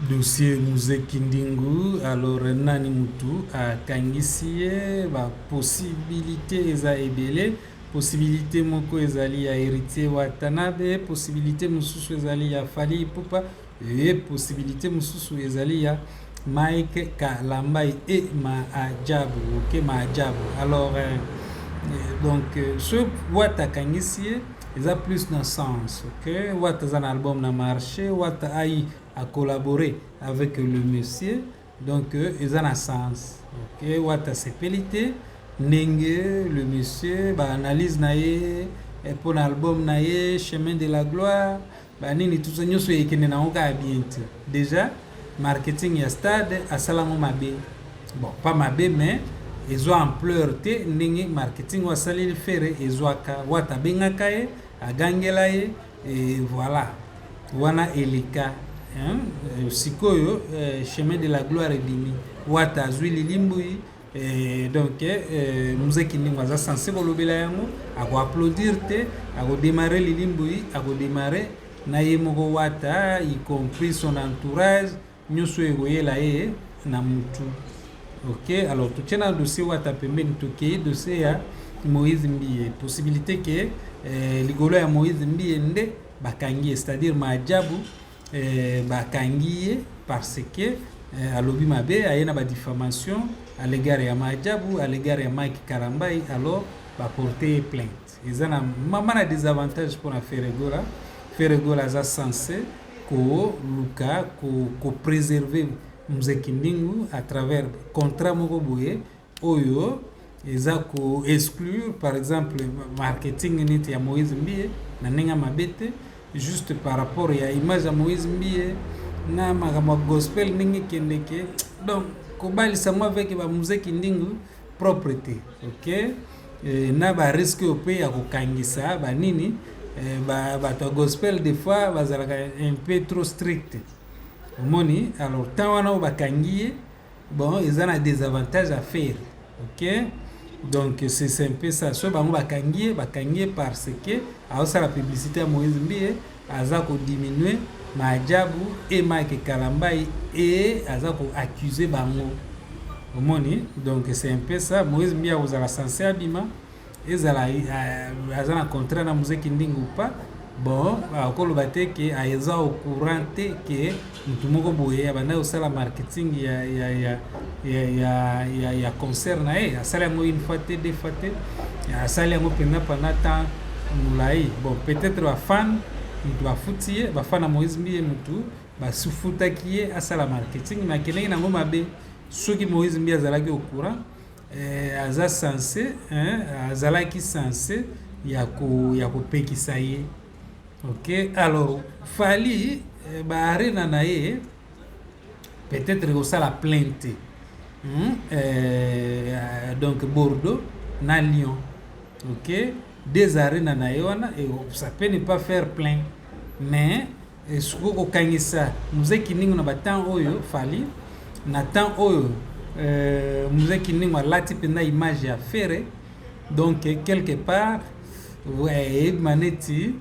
Dossier Muzee Kindingu alors nani mutu akangisi ye? Ba possibilite eza ebele. Possibilite moko ezali ya Heritier Watanabe, possibilite mosusu ezali ya Fally Ipupa et possibilite mosusu ezali ya Mike Kalambay et Maajabu. Ok, Maajabu. Alors euh, donc euh, ce Wata akangisi ye eza plus na sens ok wata aza na album na marché wata ai a collaborer avec le monsieur donc euh, eza na sens ok wata asepeli te ndenge le monsieur baanalyse na ye mpo eh, na album na ye chemin de la gloire ba nini tout ça nyoso ekende na oka ya bien te déjà marketing ya stade asala ngo mabe bon pas mabe mais ezwa ampleur te ndenge marketing oyo asaleli fere ezwaka wata abengaka ye agangela ye e voilà wana eleka hein? sikoyo euh, chemin de la gloire ebimi wata azwi lilimbui Eh, donc eh, eh, mzee Kindingo aza sense kolobela yango, akoaplaudir te, akodemare lilimbui, akodemare na ye moko wata, y compris son entourage, nyonso ekoyela ye na mutu. Ok, alors totie na dossier wata pembeni, tokei dossier ya Moïse Mbiye, possibilité ke eh, likolo ya Moïse Mbiye nde bakangi ye, c'est-à-dire maajabu Eh, bakangi ye parce que eh, alobi mabe aye na badifamation à l'égard ya maajabu à l'égard ya mike karambai alors baporte ye plainte eza na mama na désavantage mpona feregola feregola aza sense koluka kopréserve ko mzekindingu à travers contrat moko boye oyo eza ko exclure par exemple marketing neti ya Moïse Mbiye na ndenge mabe te juste par rapport ya image ya Moïse Mbiye na makambo ya gospel ndenge ekendeke donc kobalisa ngo avec ba musée kindingu propre te ok e, na ba risque oyo mpe ya kokangisa banini e, bato ya gospel des fois bazalaka un peu trop strict omoni alors temps wana oyo bakangi ye bon eza na desavantage ya ferre ok donc c'est un peu ça so bango bakangi ye bakangi ye parce que aosala publicité ya moïse mbiye aza kodiminue maajabu e mike kalambai e aza koaccuse bango omoni donc c'est un peu ça moïse mbiye akozala sense abima ezala euh, aza na contrat na mzee kindingi ou pas bon akoloba te ke aza au courant te ke motu moko boye abanda kosala marketing ya, ya, ya, ya, ya, ya, ya concert na ye asali yango une fois te deux fois te asali yango mpenza pendant temps molai bon peut-être bafan motu bafuti ye bafan na moïse mbiye motu basufutaki ye asala marketing me akendeki nango mabe soki moïse mbiye azalaki au courant eh, aza sense hein, azalaki sense ya ko ya kopekisa ye ok alors fali eh, ba arena na ye peut-être kosala plainte hmm? eh, donc bordeaux na lyon ok des arena na ye wana ça peut ne pas faire plein mais Eh, sikoyo kokangisa muze kiningo na batemp oyo fali na temps oyo euh, muze kiningo alati mpenza image ya fere donc quelque part eyebima neti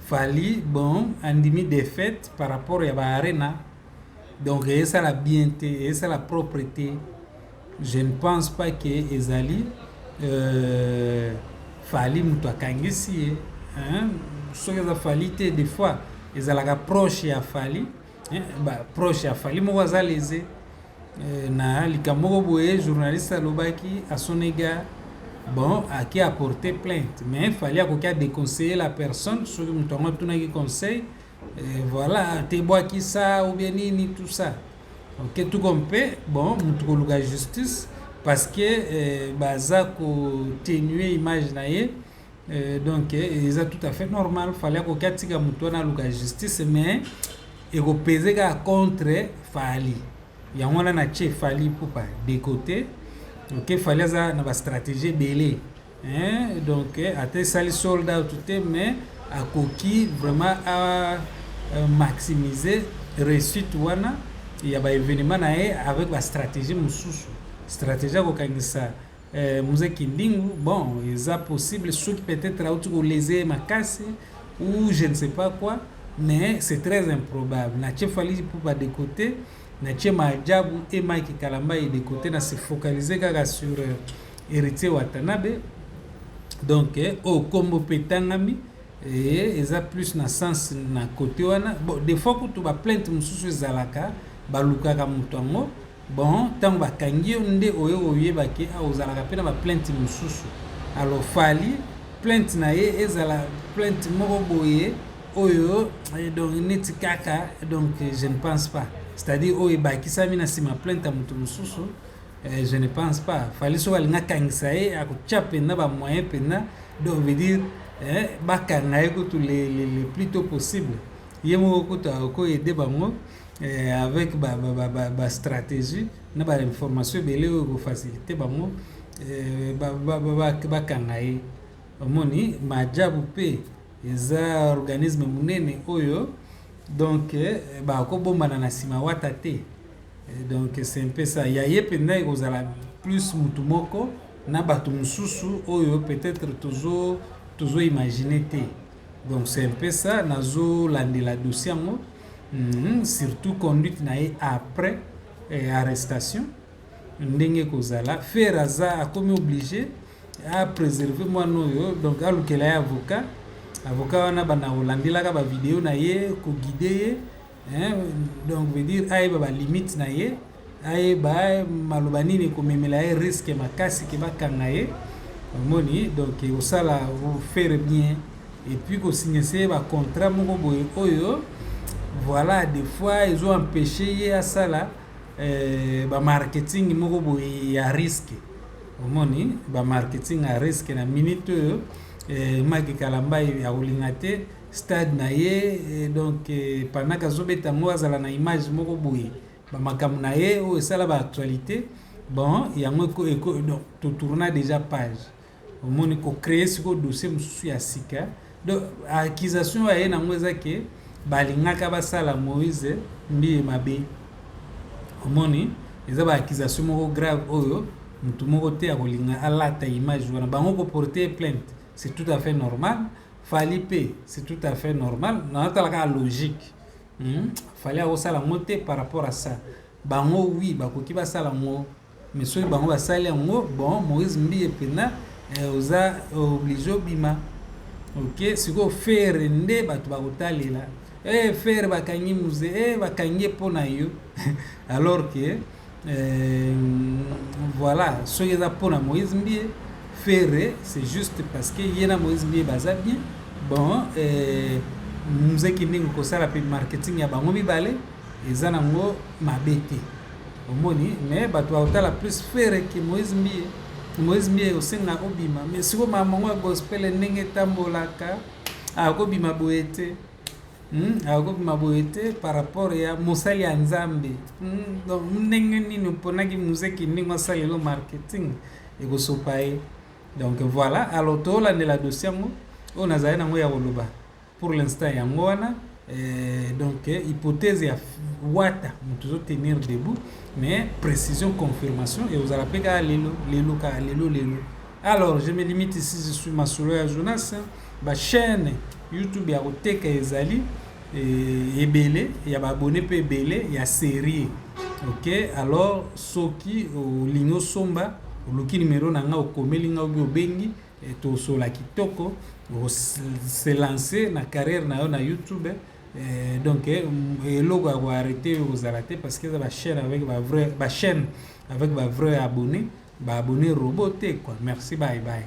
fali bon andimi défaite par rapport ya baarena donc eyesala bien te eyesala propre te Je ne pense pas que ezali euh, Fally mutu akangisi ye hein? soki eza Fally te des fois ezalaka proche ya Fally hein? ba proche ya Fally moko aza leze euh, na likambo moko boye journaliste alobaki asonega bon ake apporter plainte mais Fally akoki a déconseiller la personne soki moto yango atunaki conseil Eh, voilà te bwakisa ou bien nini tout ça ok tuko mpe bon motu koluka justice parce que eh, baza kotenue image na ye eh, donc eh, eza tout à fait normal fali akoki atika motu wana aluka justice mais ekopeze kaka contre fali yango wana na tie fali pupa de côté ok fali aza na bastratégie ebele Hein, donc eh, ata esali sold out te mais akoki vraiment a euh, maximiser réussite wana ya ba événement na ye avec ba stratégie mosusu stratégie ya kokangisa eh, mzee kindingu bon eza possible soki peut-être auti koleze ye makasi ou je ne sais pas quoi mais c'est très improbable na chefali mpo badekote na ce maajabu et Mike Kalambay de cote na se focaliser kaka sur euh, Heritier Watanabe donc euh, oyo oh, kombo mpe etangami eh, eza plus na sens na cote wana bon des fois kutu ba plainte mosusu ezalaka balukaka moto yango bon ntango bakangi yo nde oye oyeba ke a ah, ozalaka mpe na ba plainte mosusu alors fali plainte na ye ezala plainte moko boye oyo eh, donc neti kaka donc eh, je ne pense pas c'est-à-dire oyo ebakisami na nsima plainte ya moto mosusu eh, je ne pense pas fali soki alingi akangisa ye akotya mpenza bamoyen mpenza donc veut dire bakanga ye kutu le plus tôt possible ye moko kutu akoyede bango avec bastratégie na bainformation ebele oyo ekofacilite bango bakanga ye omoni majabu mpe Eza organisme munene oyo donc eh, bakobombana na sima wata te eh, donc c'est un peu ça ya ye mpenza ekozala plus mutu moko na bato mosusu oyo peut-être tozo tozo imagine te donc c'est un peu ça nazolandela dossier yango mm -hmm. surtout conduite na ye après eh, arrestation ndenge ekozala ferre aza akomi oblige a preserve mwana oyo donc alukela ye avocat avocat wana bana olandelaka bavideo na ye koguide ye donc veut dire ayeba balimite na ye ayeba maloba nini ekomemela ye riske makasi ke bakanga ye omoni donc osala ferre bien epuis kosignese ye bacontrat moko boye oyo voilà des fois ezo empeshe ye asala eh, ba marketing moko boye ya risque omoni ba marketing ya risque na minute oyo eh, maki kalambai akolinga te stade na ye eh, donc eh, panaka azobeta yango azala na image moko boye bamakambo na ye oyo esala ba actualité bon yango totourna déjà page omoni ko créer siko dossier mosusu ya sika donc accusation aye nango eza ke balingaka basala moïse mbiye mabe omoni eza ba accusation moko grave oyo motu moko te akolinga alata image wana bango ko porter plainte c'est tout à fait normal fali pe c'est tout à fait normal natalaka logique hmm? fali akosala yango te par rapport à ça bango wi bakoki basala yango Mais soki bango basali yango bon Moïse Mbiye pena eh, oza oblige obima ok sikoyo fere nde bato bakotalela eh, fere bakangi muze eh, bakangi mpo na yo alors que eh, voilà soki eza mpo na Moïse Mbiye fere c'est juste parce que ye na Moïse Mbiye baza bien bon eh, muzeki ndenge kosala mpe marketing ya bango mibale eza nango mabe te omoni mais bato bakotala plus fere ke moise mbiye moise mbiye osenga obima mais siko mamango ya gospele ndenge etambolaka akobima boye te hmm? akobima boye te par rapport ya mosali ya nzambe hmm? donc ndenge nini oponaki muzeki ndenge asalelo marketing ekosopa ye donc voilà alors tolandela dosi yango oyo nazali nango ya koloba Pour l'instant yango wana eh, donc eh, hypothèse ya wata moto ezo tenir debout mais précision confirmation et ozala mpe kaka lelo lelo kaka lelo lelo alors je me limite ici je suis masolo ya jonas bachaîne youtube ya koteka ezali eh, ebele ya baabone mpe ebele ya serie ok alors soki olingi osomba oluki nimero na ngai okomeli ngai obi obengi Tosola kitoko se lancer na carrière na yo na YouTube eh, donc eh, eloko ya koarrete yo kozala te parce que eza bachaîne avec ba vrai bachaîne avec ba vrai abonné baabonné robot te quoi merci bye bye